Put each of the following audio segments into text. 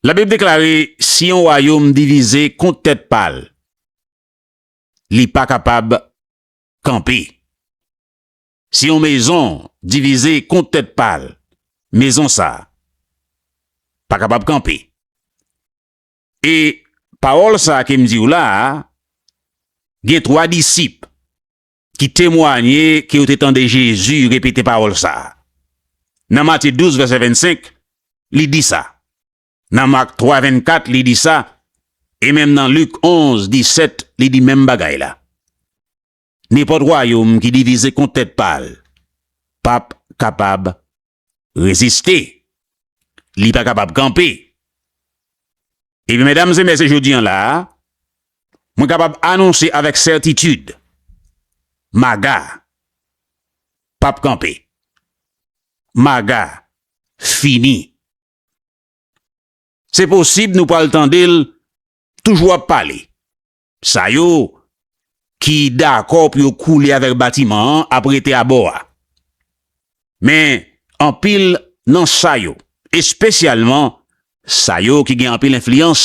Labib deklare si yon wayom divize kont tèt pa l, li pa kapab kanpe. Si yon mezon divize kont tèt pa l, mezon sa a pa kapab kanpe. E pawòl sa a ke m di w la a, gen twa disip ki temwanye ke yo te tande Jezi repete pawòl sa a. Nan Matye 12, vèsè 25, li di sa. Nan Mak 3, 24, li di sa, e menm nan Lik 11, 17, li di menm bagay la. Nenpòt wayòm ki divize kont tèt pa l pap kapab reziste, li pa kapab kanpe. Ebyen, medam e mesye jodi an la a, mwen kapab anonse avèk sètitid, MAGA pa p kanpe. MAGA fini. Se posib nou pral tande l toujou ap pale. Sa yo ki dakò pou yo koule avèk batiman an ap rete abò a. Men, anpil nan sa yo, espesyalman sa yo ki gen anpil enfliyans,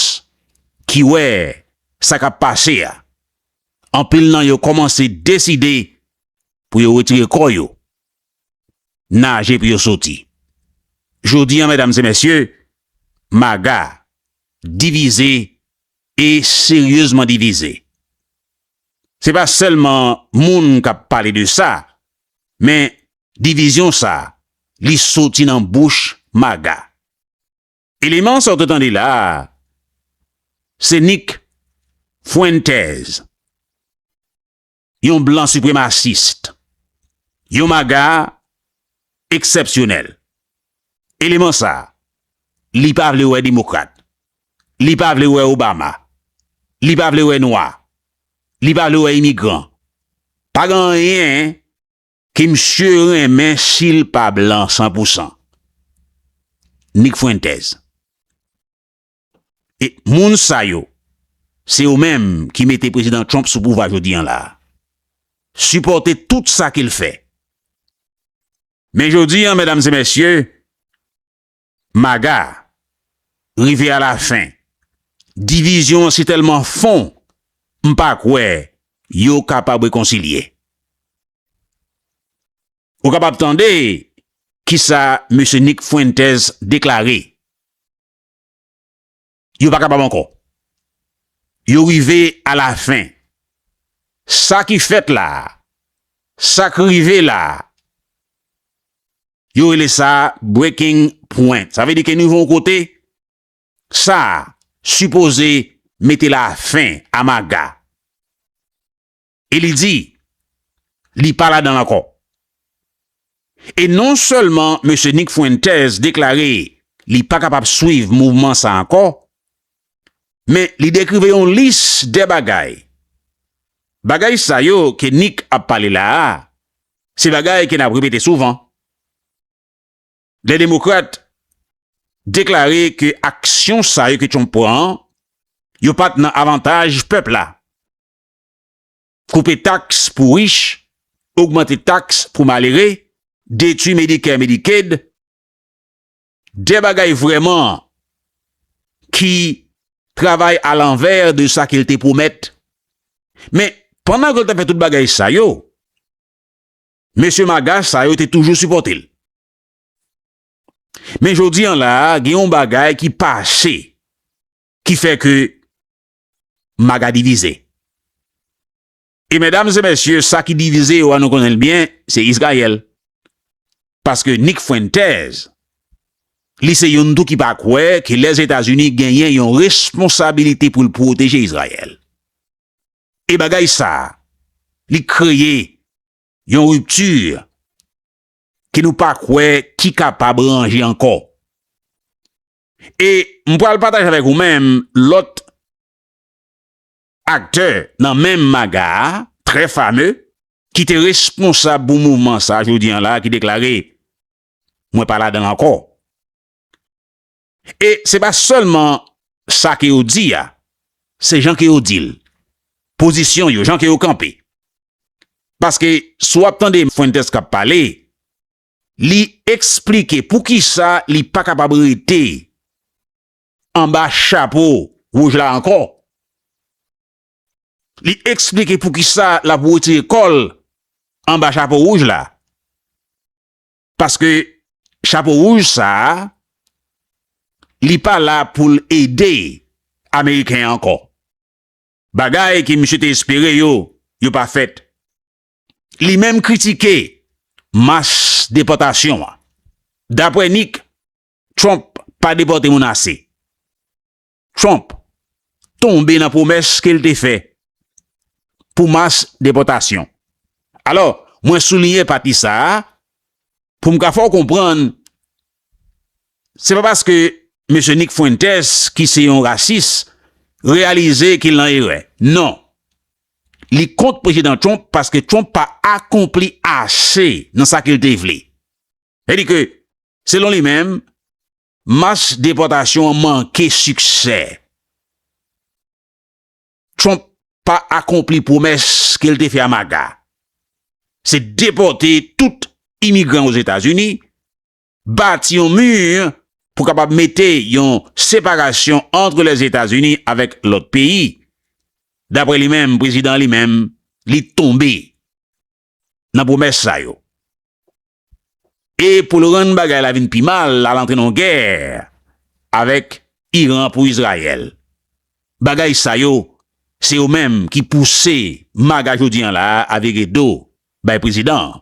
ki wè sa k ap pase a, anpil nan yo kòmanse deside pou yo wetire kò yo, naje pou yo soti. Jodi a, medam e mesye, maga divize e seryezman divize. Se pa sèlman moun k ap pale de sa, men divizyon sa li soti nan bouch MAGA. Eleman sa w te tande la a, se Nick Fuentes. Yon blan sipremasis-t. Yon maga eksèpsyonèl. Eleman sa, li pa vle wè demokrat. Li pa vle wè Obama. Li pa vle wè nwa. Li pa vle wè imigran. Pa gen anyen ke misye renmen si l pa blan san pou san. Nik Fuentes. E moun sa yo, se yo menm ki mete Prezidan Trump sou pouvwa jodi an la. Sipòte tout sa ke l fè. Men jodi an, medam e mesye, MAGA rive a la fen. Divizyon an si tèlman fon, m pa kwè yo kapab rekonsilye. Ou kapab tande kisa Mesye Nick Fuentes deklare. Yo pa kapab ankò. Yo rive a la fen. Sa ki fèt la a, sa k rive la a, yo rele sa breaking point. Sa vle di ke nou rive yon kote, sa a sipoze mete la fen a maga. E li di, li pa ladan l ankò. E non sèlman Mesye Nick Fuentes deklare li pa kapab swiv mouvman sa ankò, men li dekrive yon lis de bagay. Bagay sa yo ke Nick ap pale la a, se bagay ke n ap repete souvan. Lè Demokrat deklare ke aksyon sa yo ke Trump pran an, yo pa t nan avantaj pèp la. Koupe taks pou rich, ogmante taks pou malere, detwi Medicare Medicaid, de bagay vrèman ki travay a lanvè de sa ke l te pwomèt. Men, pandan ke l t ap fè tout bagay sa yo, mesye maga sa yo te toujou sipòte l. Men jodi an la, gen yon bagay ki pase ki fè ke maga divize. E medam e mesye sa ki divize yo an nou konnen l byen se Israel. Paske Nick Fuentes li se youn tou ki pa kwè ke Lèzetazini genyen yon responsabilite pou l pwoteje Israel. E bagay sa li kreye yon ripti ke nou pa kwè ki kapab ranje ankò. E m pral pataje avèk ou menm lòt aktè nan menm maga a, trè fame, ki te responsab pou mouvman sa jodi an la ki deklare, Mwen pa ladan l ankò. E se pa sèlman sa ke yo di a, se jan ke yo di l, pozisyon yo, jan ke yo kanpe. Paske si w ap tande Fuentes k ap pale, Li eksplike pou ki sa li pa kapab rete anba chapo wouj la ankò. Li eksplike pou ki sa l ap wetire kò l anba chapo wouj la. Paske chapo wouj sa a, li pa la pou l ede Ameriken ankò. Bagay ke misye te espere yo, yo pa fèt. Li menm kritike mach depòtasyon an. Dapwè Nick, Trump pa depòte moun ase. Trump tonbe nan pwomès ke l te fè pou mach depòtasyon. Alò, mwen souliye pati sa a pou m ka fè w konprann se pa paske Mesye Nick Fuentes ki se yon rasis reyalize ke l nan erè. Non, Li kont Prezidan Trump paske Trump pa akonpli ase nan sa ke l te vle. Sa di ke, selon li menm, mas depòtasyon an manke siksè. Trump pa akonpli pwomès ke l te fè a MAGA. Se depòte tout imigran Ozetazini bati yon mur pou kapab mete yon separasyon antre Lèzetazini avèk lòt peyi. Daprè li menm, prezidan li menm, li tonbe nan pwomès sa yo. E pou l rann bagay la vin pi mal, l al antre nan yon gè avèk Iran pou Izrayèl. Bagay sa yo, se yo menm ki pouse MAGA jodi an la a vire do bay prezidan an.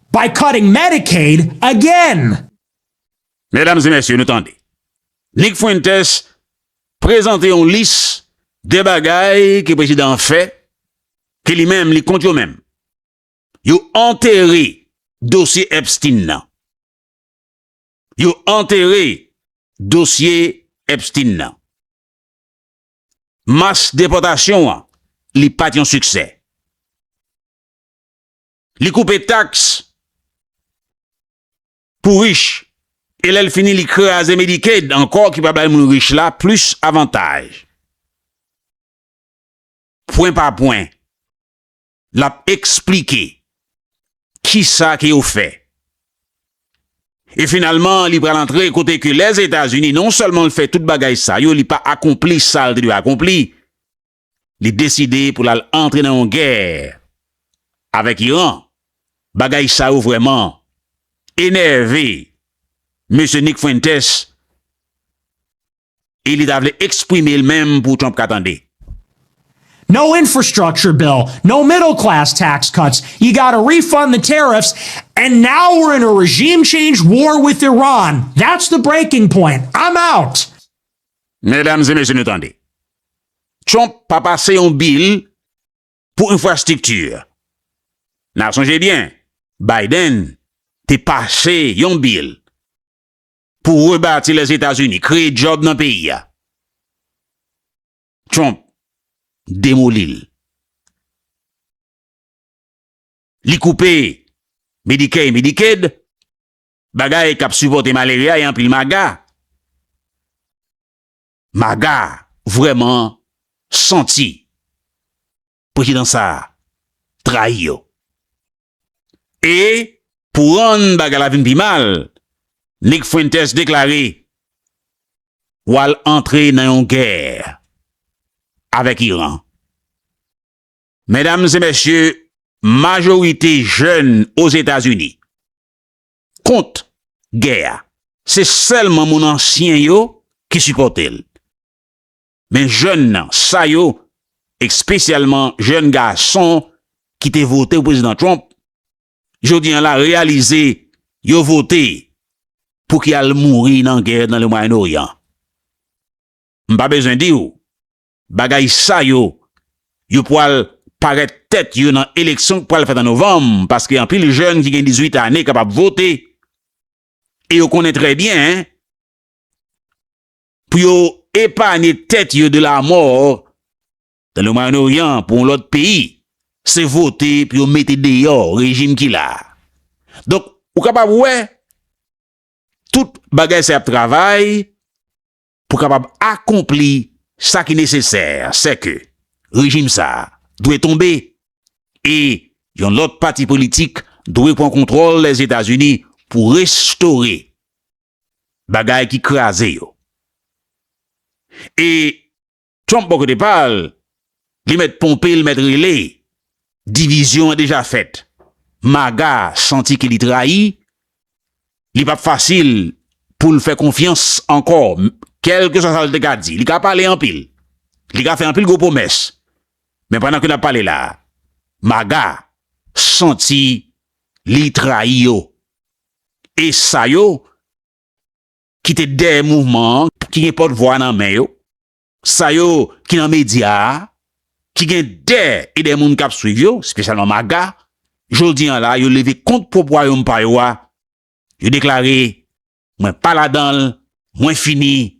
By cutting Medicaid again! Medam e mesye nou tande. Nick Fuentes prezante yon lis de bagay ke prezidan an fè ke li menm li kont yo menm. Yo antere dosye Epstein nan. Yo antere dosye Epstein nan. Mas depòtasyon an li pat yon siksè. Li koupe taks pou rich e lè l fini li kraze Medicaid ankò ki pa bay moun rich la plis avantaj. Pwen pa pwen, l ap eksplike ki sa ke yo fè. E finalman li pral antre kote ke Lèzetazini non sèlman l fè tout bagay sa yo li pa akonpli sa l te dwe akonpli li deside pou l al antre nan yon gè avèk Iran. Bagay sa yo vrèman enève mesye Nick Fuentes e li ta vle eksprime l menm pou Trump ka tande. No infrastructure bill, no middle class tax cuts, you got to refund the tariffs and now we're in a regime change war with Iran. That's the breaking point. I'm out! Medam e mesye nou tande. Trump pa pase yon bil pou enfrastikti. Na sonje byen Biden te pase yon bil pou rebati Lèzetazini, kreye djòb nan peyi a. Trump demoli l. Li koupe Medicare et Medicaid. Bagay kap sipòte malere a e anpil maga. Maga vrèman santi prezidan sa trayi yo. E pou rann bagay la vin pi mal, Nick Fuentes deklare wal antre nan yon gè avèk Iran. Medam e mesye, majorite jèn Ozetazini kont gè a. Se sèlman moun ansyen yo ki sipòte l. Men jèn nan sa yo, espesyalman jèn gason ki te vote pou Prezidan Trump, jodi an la reyalize yo vote pou ki al mouri nan gè nan Le Mwayen Oryan. M pa bezwen di w Bagay sa yo, yo pwal parèt tèt yo nan eleksyon k pwal fèt an novanm paske anpil jèn ki gen 18 ane kapab vote e yo konnen trè byen pou yo epanye tèt yo de lamò nan le Mwayen Oryan pou yon lòt peyi se vote pou yo mete deyò rejim ki la a. Donk ou kapab wè tout bagay sa y ap travay. Pou kapab akonpli sa ki nesesè, sèke rejim sa a dwe tonbe e yon lòt pati politik dwe pran kontwòl Lèzetazini pou restore bagay ki kraze yo. E. Trump bò kote pa l, li mèt ponpe, li mèt rele. Divizyon an deja fèt. MAGA santi ke li trayi, li pap fasil pou l fè konfyans ankò, kèlkeswa sa l te ka di. Li ka pale anpil, li ka fè anpil gwo pwomès, men pandan ke n ap pale la a, MAGA santi li trayi yo. E sa yo. ki te dèyè mouvman an, ki gen pòt vwa nan men yo, sa yo ki nan medya a, ki gen dè e dè moun k ap swiv yo, espesyalman MAGA, jodi an la yo leve kont pwòp wayòm pa yo a, yo deklare, Mwen pa ladan l, mwen fini,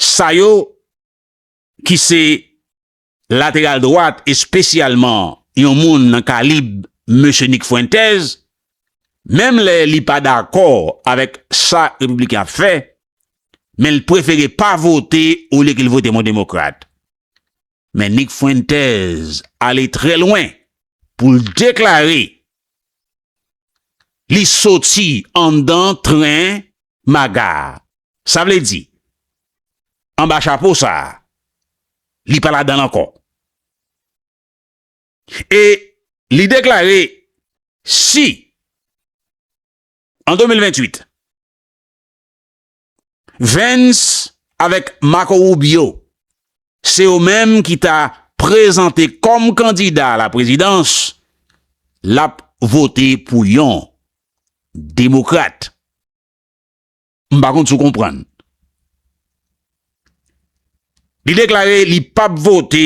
Sa yo ki se lateral dwat espesyalman yon moun nan kalib mesye Nick Fuentes, menm lè li pa dakò avèk sa Repibliken ap fè, men l prefere pa vote olye ke l vote yon demokrat. Men Nick Fuentes ale trè lwen pou l deklare li soti anndan tren MAGA a. Sa vle di, anba chapo sa a, li pa ladan l ankò. E li deklare si an 2028, Vens avèk Marco Rubio, se yo menm ki ta prezante kòm kandida a la prezidans, l ap vote pou yon demokrat. M pa konn si w konprann. Li deklare li p ap vote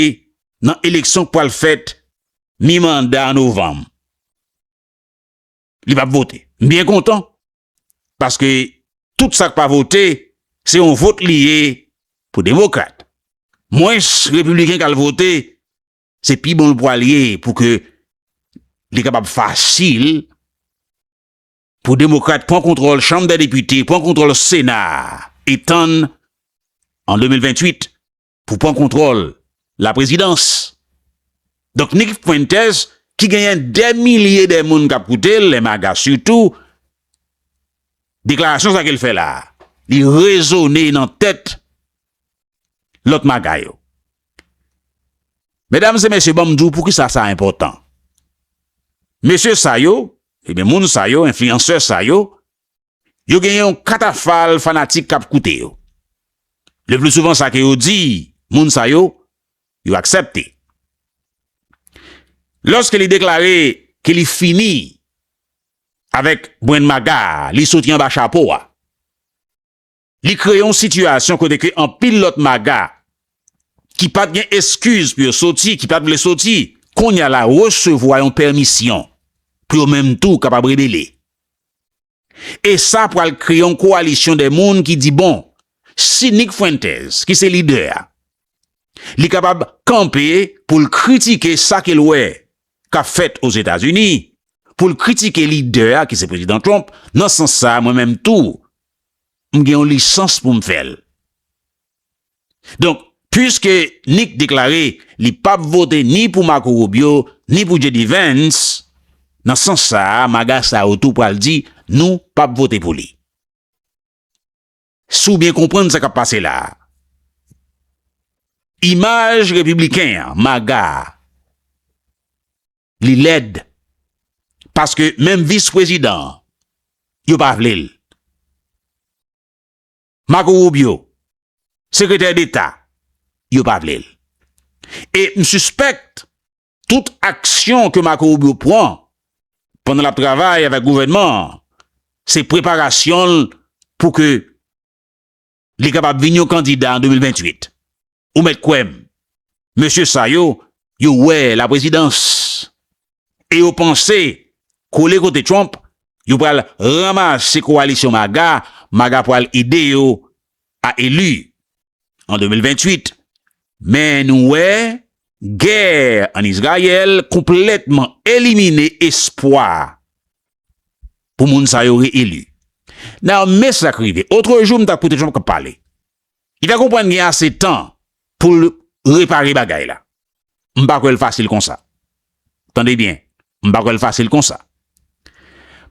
nan eleksyon k pral fèt mi-manda an novanm. Li p ap vote. M byen kontan. paske tout sak pa vote se yon vot li ye pou demokrat mwens repibliken kal vote se pi bon l pwal ye pou ke li kapab fasil pou demokrat pwan kontrol chanm dè depite pwan kontrol sena etan an 2028 pou pran kontwòl la prezidans. Donk Nick Fuentes ki genyen dè milye dè moun kap koute l, lè maga sitou, deklarasyon sa ke l fè la, li rezone nan tèt lòt maga yo. Medam se mesye banm di w pou ki sa sa enpòtan. Mesye sa yo, e ben moun sa yo, enfliyansè sa yo, yo gen yon katafal fanatik k ap koute yo. Leplisouvan sa ke yo di moun sa yo, yo aksepte. Lòske li deklare ke li fini avèk Brendmaga a, li soti anba chapo a. Li kreye yon sitiyasyon kote ke anpil lòt maga ki pat gen eskiz pou yo soti, ki pat vle soti, kounye a la resevwa yon pèmisyon pou yo menm tou kapab rebele. E sa pral kreye yon kowalisyon de moun ki di bon, si Nick Fuentes ki se lidè a, li kapab kanpe pou l kritike sa ke l wè kap fèt Ozetazini, pou l kritike lidè a ki se Prezidan Trump, nan sans sa mwen menm tou m gen yon lisans pou m fè l. Donk, puiske Nick deklare li pap vote ni pou Marco Rubio, ni pou JD Vance, nan sans sa a maga sa yo tou pral di nou pap vote pou li. Si w byen konprann sa k ap pase la a, imaj repibliken an, maga a, li lèd paske menm vis prezidan yo pa vle l. Marco Rubio, sekretè deta, yo pa vle l. E m sispèkt tout aksyon ke Marco Rubio pran pandan l ap travay avèk gouvènman an se preparasyon l pou ke Li kapab vin yon kandida an 2028. Ou mèt kwè m, mesye sa yo, yo wè laprezidans e yo panse kole kote Trump, yo pral ranmase kowalisyon maga, maga pral ede yo a eli an 2028. Men nou wè, gè ann Izrayèl konplètman elimine espwa pou moun sa yo re-eli. Now, men sa k rive. Otre jou, m t ap koute Trump k ap pale. Li fè konprann gen ase tan pou l repare bagay la. M pa kwè l fasil konsa. Tande byen, m pa kwè l fasil konsa.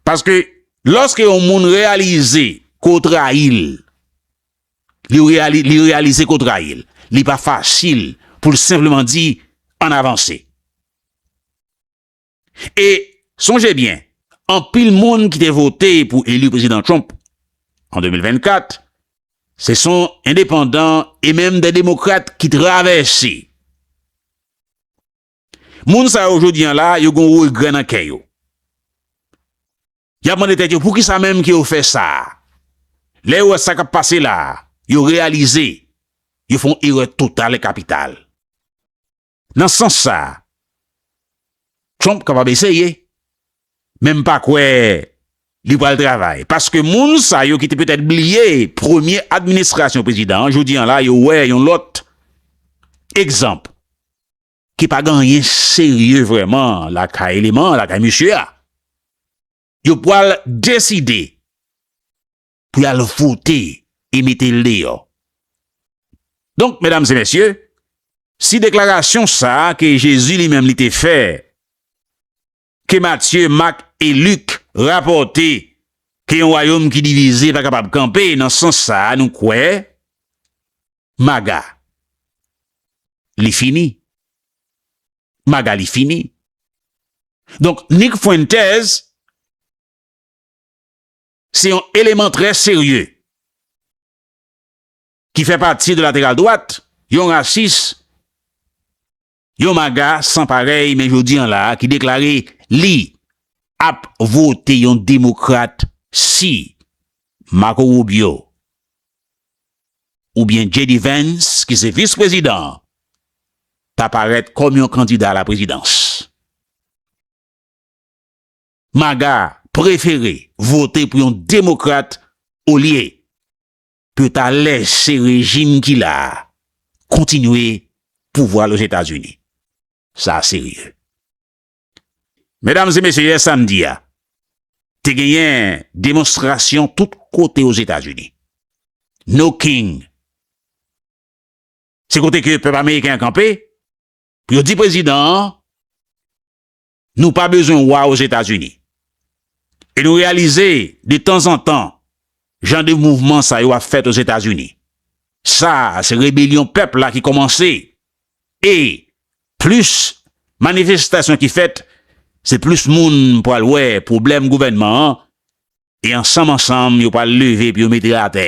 Paske, lòske yon moun reyalize ke w trayi l, li reyalize ke w trayi l, li pa fasil pou l senpleman di, ann avanse. E, sonje byen, anpil moun ki te vote pou eli Prezidan Trump an 2024, se son endepandan e menm de demokrat ki travèse. Moun sa yo jodi an la, yo gon regrè nan kè yo. Y ap mande tèt yo poukisa menm ke yo fè sa. Lè yo wè sa k ap pase la, yo reyalize yo fè yon erè total e kapital. Nan sans sa, Trump kapab eseye, men m pa kwè li pral travay, paske moun sa yo ki te petèt bliye premye administrasyon prezidan an, jodi an la yo wè yon lòt egzanp ki pa gen anyen serye vrèman lakay eleman lakay mesye a, yo pral deside pou yal vote e mete l deyò. Donk, medam e mesye, si deklarasyon sa a ke Jezi li menm li te fè, ke Matye, Mak e Lik rapòte ke yon wayom ki divize pa kapab kanpe, nan sans sa a nou kwè, maga li fini. Maga li fini. Donk, Nik Fwentèz, Se yon eleman trè serye ki fè pati de lateral dwat, yon rasis, yon maga san parèy men jodi an la a ki deklare li ap vote yon demokrat si Marco Rubio oubyen JD Vance ki se vis prezidan an ta parèt kòm yon kandida a la prezidans. Maga prefere vote pou yon demokrat olye pou yo ta lèse rejim ki la a kontinye pouvwa l Ozetazini. Sa serye. Medam e mesye yè samdi a te genyen demonstrasyon tout kote Ozetazini. No king. Se kote ke pèp ameriken an kanpe pou yo di prezidan an Nou pa bezwen wa Ozetazini. E nou reyalize, de tanzantan, jan de mouvman sa yo ap fèt Ozetazini. Sa a, se rebelyon pèp la ki kòmanse. E, plis manifestasyon ki fèt, se plis moun pral wè pwoblèm gouvènman an, e ansanm ansanm yo pral leve pou yo mete atè.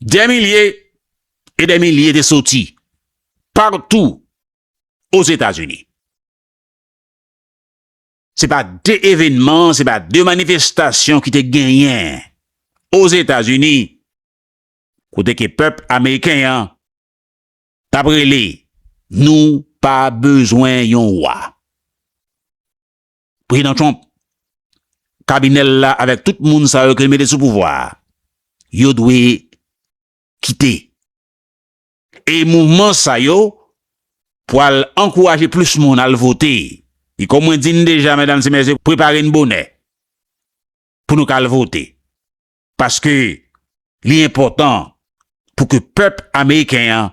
Dè milye e dè milye te soti patou Ozetazini. Se pa de evenman, se pa de manifestasyon ki te genyen Ozetazini kote ke pèp ameriken an t ap rele nou pa bezwen yon wa. Prezidan Trump, kabinè l la avèk tout moun sa yo ke l mete sou pouvwa a, yo dwe kite. E mouvman sa yo pwal ankouraje plis moun al vote. E kòm mwen di n deja, medam e mesye, prepare n bonè pou nou ka al vote. Paske li enpòtan pou ke pèp ameriken an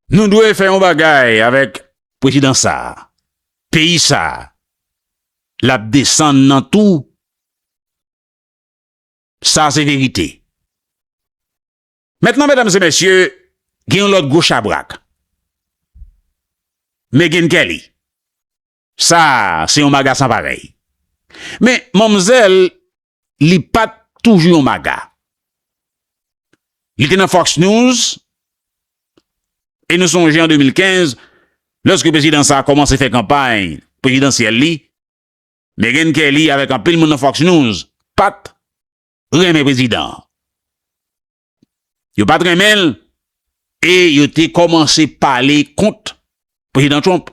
Nou dwe fè yon bagay avèk prezidan sa, peyi sa lap desann nan tou sa se verite. Mentnan medam se mesye gen yon lòt gwo chabrak Megyn Kelly. Sa se yon maga san parèy. Men manmzèl li pat toujou yon maga. Li te nan Fox News e nou sonje an 2015 lòske prezidan sa kòmanse fè kanpay prezidansyèl li, Meghan Kelly avèk anpil moun nan Fox News pat renmen prezidan an. Yo pa t renmen l e yo te kòmanse pale kont Prezidan Trump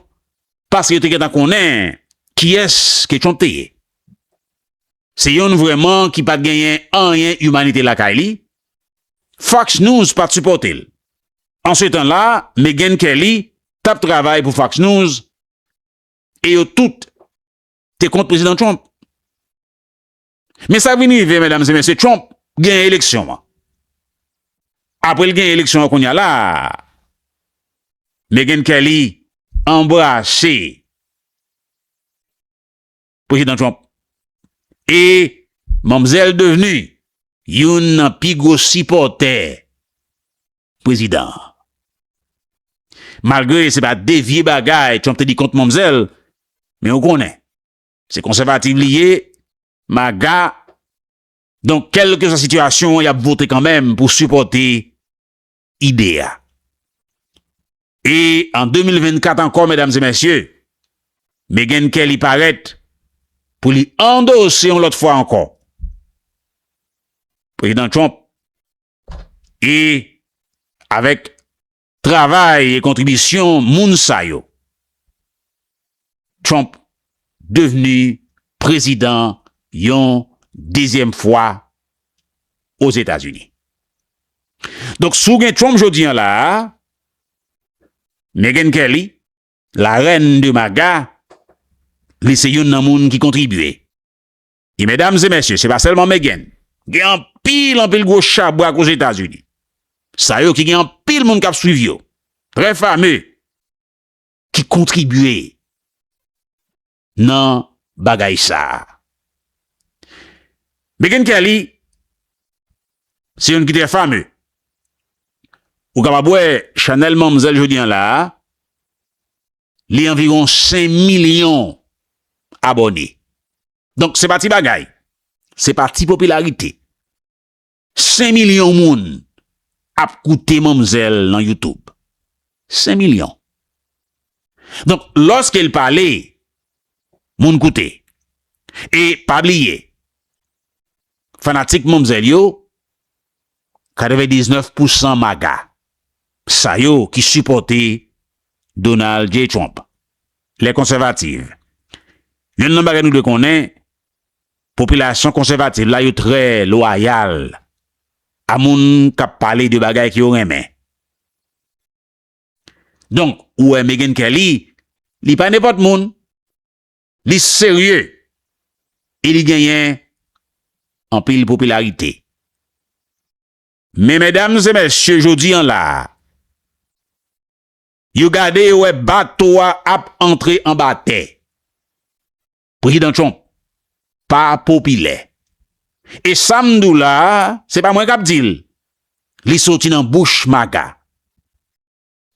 paske yo te gentan konnen kiyès ke Trump te ye. Se youn vrèman ki pa t genyen anyen imanite lakay li, Fox News pa t sipòte l. Ansetan la, Megyn Kelly t ap travay pou Fox News e yo tout te kont Prezidan Trump. Men sak vin rive medam se mesye Trump genyen eleksyon an aprel genyen eleksyon an kounya la Meghan Kelly anbrase prezidan Trump e manmzel devni youn nan pi gwo sipòtè prezidan an malgre se pa de vye bagay Trump te di kont manmzel men ou konnen. Se konsèvativ li ye, maga, donk kèlke swa sitiyasyon y ap vote kanmenm pou sipòte ide a. E an 2024 ankò medam e mesye, Meghan Kelly parèt pou li andose yon lòt fwa ankò Prezidan Trump e avèk Travay e kontribisyon moun sa yo Trump devni prezidan yon dezyèm fwa Ozetazini. Donk si w gen Trump jodi an la a, Meghan Kelly, la reine de MAGA, li se youn nan moun ki kontribye. E medam e mesye, se pa selman Meghan. Gen anpil, anpil gwo chabrak Ozetazini. Sa yo ki gen anpil moun kap swiv yo. Trè fame. Ki kontribye nan bagay sa. Meghan Kelly, se yon ki trè fame. Ou kapab wè chanel manmzèl jodi an la a. Li anviron 5 milyon abòne. Donk se pa ti bagay. Se pa ti popilarite. 5 milyon moun ap koute manmzèl nan YouTube. 5 milyon. Donk lòske l pale, moun koute. E pa bliye. Fanatik manmzèl yo, 99 pou san maga sa yo ki sipòte Donald J. Trump, lè konsèvativ, yonn nan bagay nou dwe konnen, popilasyon konsèvativ la yo trè lwayal a moun k ap pale de bagay ke yo renmen. Donk, ou wè Megyn Kelly, li pa nenpòt moun. Li serye e li genyen anpil popilarite. Men medam e mesye jodi an la a, yo gade yo wè bato a ap antre anba tè. Prezidan Trump pa popilè. E sa m di w la a, se pa mwen k ap di l, li soti nan bouch maga.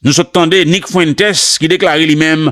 Nou sot tande Nick Fuentes ki deklare li menm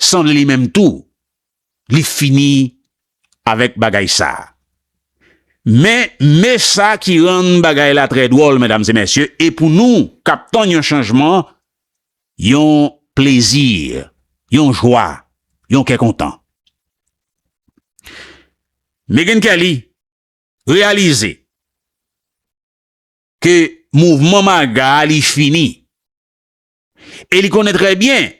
Sanble li menm tou li fini avèk bagay sa. Men me sa ki rann bagay la trè dwòl medam e mesye e pou nou kap tann yon chanjman yon plezi yon jwa yon kè kontan. Meghan Kelly reyalize ke mouvman maga li fini. E li konnen trè byen,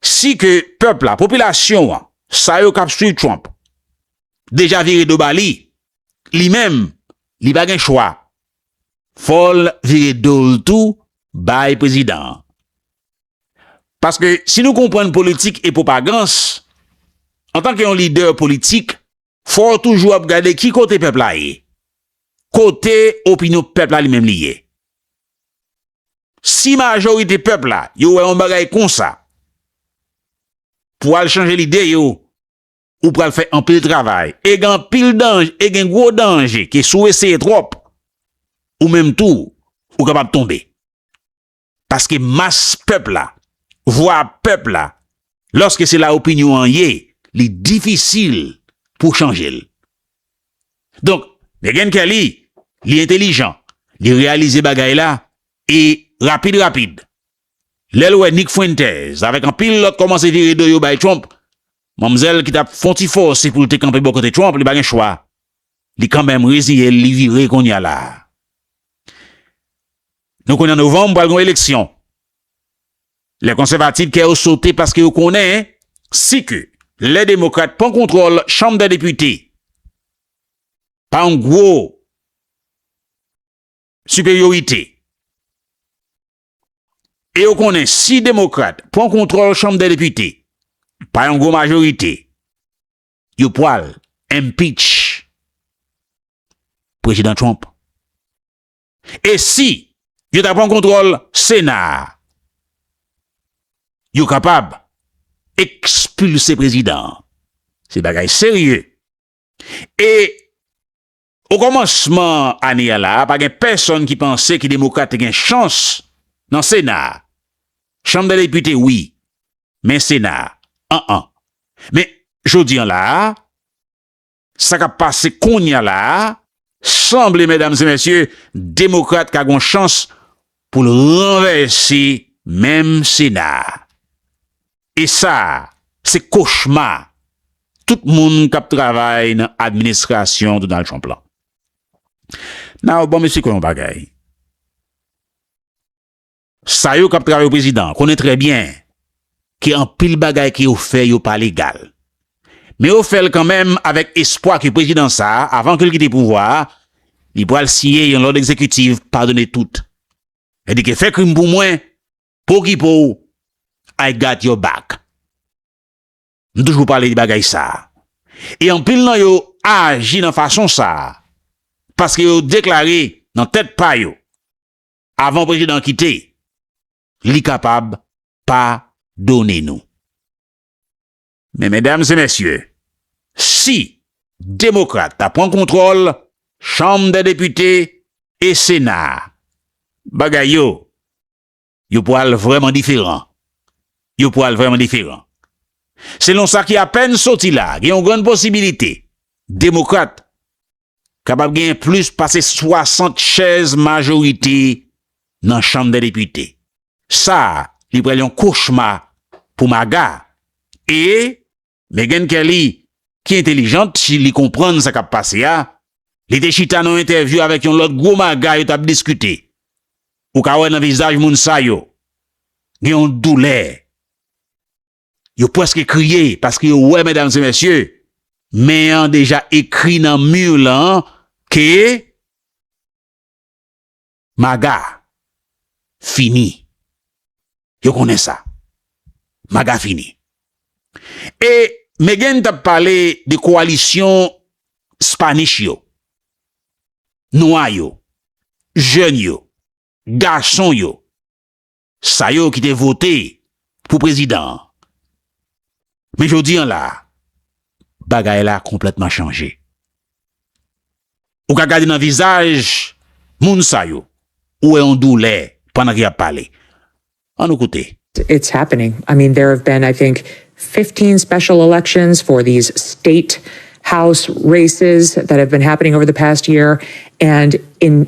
si ke pèp la, popilasyon an, sa yo k ap swiv Trump, deja vire do ba li, li menm, li pa gen chwa, fò l vire do l tou bay prezidan an. Paske si nou konprann politik e pwopagans, antanke yon lidè politik, Fò w toujou ap gade ki kote pèp la ye. Kote opinyon pèp la li menm li ye. Si majorite pèp la yo wè yon bagay konsa, pou al chanje lide yo, ou pral fè anpil travay. E gen anpil danje, e gen gwo danje ke si w eseye twòp, ou menm tou, ou kapab tonbe. Paske mas pèp la, vwa pèp la, lòske se la opinyon an ye, li difisil pou w chanje l. Donk, Meghan Kelly, li entelijan, li reyalize bagay la, e rapid rapid, lè l wè Nick Fuentes avèk anpil lòt kòmanse vire do yo bay Trump, manmzèl ki t ap fon ti fòse pou l te kanpe bò kote Trump, li pa gen chwa, li kanmenm reziye l, li vire kounye a la. Nou konnen an novanm pral gen yon eleksyon. Lè konsèvativ kè yo sote paske yo konnen si ke lè demokrat pran kontwòl chanm dè depite pa yon gwo siperyorite e yo konnen si demokrat pran kontwòl chanm dè depite pa yon gwo majorite yo pwal empitch prezidan Trump. E si yo ta pran kontwòl Sena a, yo kapab ekspilse prezidan an. Se bagay serye. E okòmansman ane a la a, pa gen pèsonn ki panse ke demokrat te gen chans nan Sena a. Chanm dè depite wi, men Sena a, an an. Men, jodi an la a, Sa kap pase kounya la a, sanble medam e mesye, demokrat ka gon chans pou l ranvèse menm sena a. E sa, se kochma tout moun kap travay nan administrasyon Donald Trump lan. Now bon mesye kon yon bagay. Sa yo kap travay pou prezidan konnen trè byen ke anpil bagay ke yo fè yo pa legal. Men yo fèl kanmenm avèk espwa ke prezidan sa avan ke l kite pouvwa a, li pwal siyen yon lòd egzekitiv padone tout. Sèdi ke fè krim pou mwen, pou okipe w, I got your back. M toujou pale de bagay sa. E anpil nan yo aji nan fason sa paske yo deklare nan tèt pa yo. Avan prezidan an kite, li kapab pa done nou. Men medam e mesye, si demokrat ta pran kontwòl chanm dè depite e sena a, bagay yo, yo pwal vrèman diferan. Yo pwal vrèman diferan. Selon sa ki apèn soti la, gen yon grann posibilite demokrat Kapab genyen plis pase 60 chèz majorite nan chanm dè depite. Sa li pral yon kochma pou MAGA. E Meghan Kelly ki entelijant si li konprann sa kap pase a, li te chita nan yon entèvyou avèk yon lòt gwo MAGA yo tap diskite. Ou ka wè nan vizaj moun sa yo gen yon doulè. Yo pwèske kriye, paske yo wè, medam e mesye, men an deja ekri nan mur lan ke Maga fini. Yo konnen sa. Maga fini. E Meghan tap pale de koalisyon Spanish yo, nwa yo, jèn yo, gason yo, Sa yo ki te vote pou prezidan an. Men jodi an la, bagay la konplètman chanje. Ou ka gade nan vizaj moun sa yo, ou wè yon doulè pandan ke y ap pale. An nou koute. It's happening. I mean there have been I think 15 special elections for these state house races that have been happening over the past year and in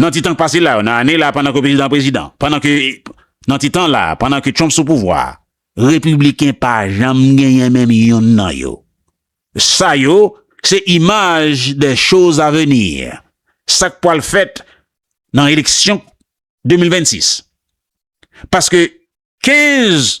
Nan ti tan k pase la yo, nan ane la pandan ke prezidan an prezidan, pandan ke, nan ti tan la, pandan ke Trump sou pouvwa a, Repibliken pa janm genyen menm youn nan yo. Sa yo, se imaj de choz a venir, sa k pwal fèt nan eleksyon 2026. Paske 15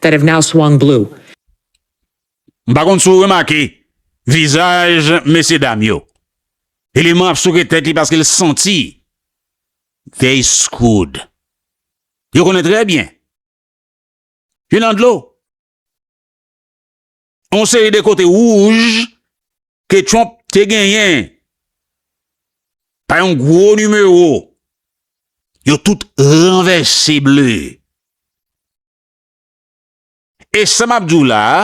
that have now swung blue. M pa konn si w remake vizaj mesye dam yo. Eleman ap souke tèt li paske l santi they screwed. Yo konnen trè byen. Yo nan dlo. On seri de kote wouj ke Trump te genyen pa yon gwo nimewo, yo tout ranvèse bleu. E sa m ap di w la a,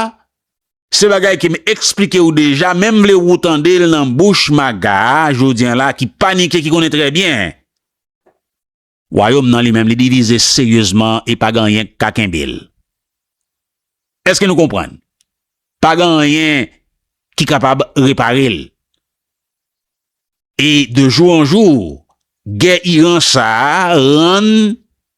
se bagay ke m eksplike w deja men m vle wou tande l nan bouch Maga a jodi an la a ki panike ki konnen trè byen Wayòm nan li menm li divize seryezman e pa gen anyen k ka kenbe l. Èske nou konprann? Pa gen anyen ki kapab repare l. E de jou an jou, gè Iran sa a rann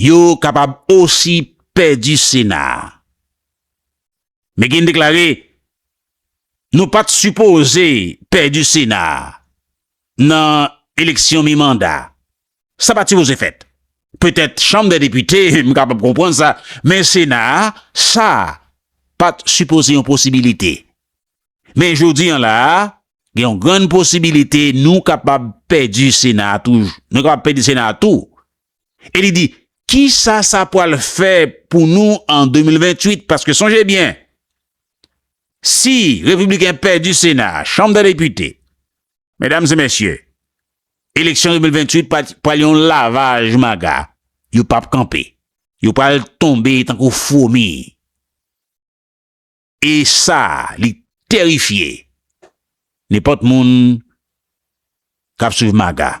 Yo kapab osi pèdi Sena a. McGinn deklare, Nou pa t sipoze pèdi Sena a nan eleksyon mi-manda. Sa pa t sipoze fèt. Petèt Chanm dè Depite, m kapab konprann sa, men Sena a, sa pa t sipoze yon posibilite. Men jodi an la a, gen yon grann posibilite nou kapab pèdi Sena a tou. e li di kisa sa pwal fè pou nou an 2028 paske sonje byen si repibliken pèdi sena a, chanm dè depite medam e mesye eleksyon 2028 pwal yon lavaj maga yo pap kanpe yo pwal tonbe tankou fwomi e sa li terifye nenpòt moun kap swiv maga.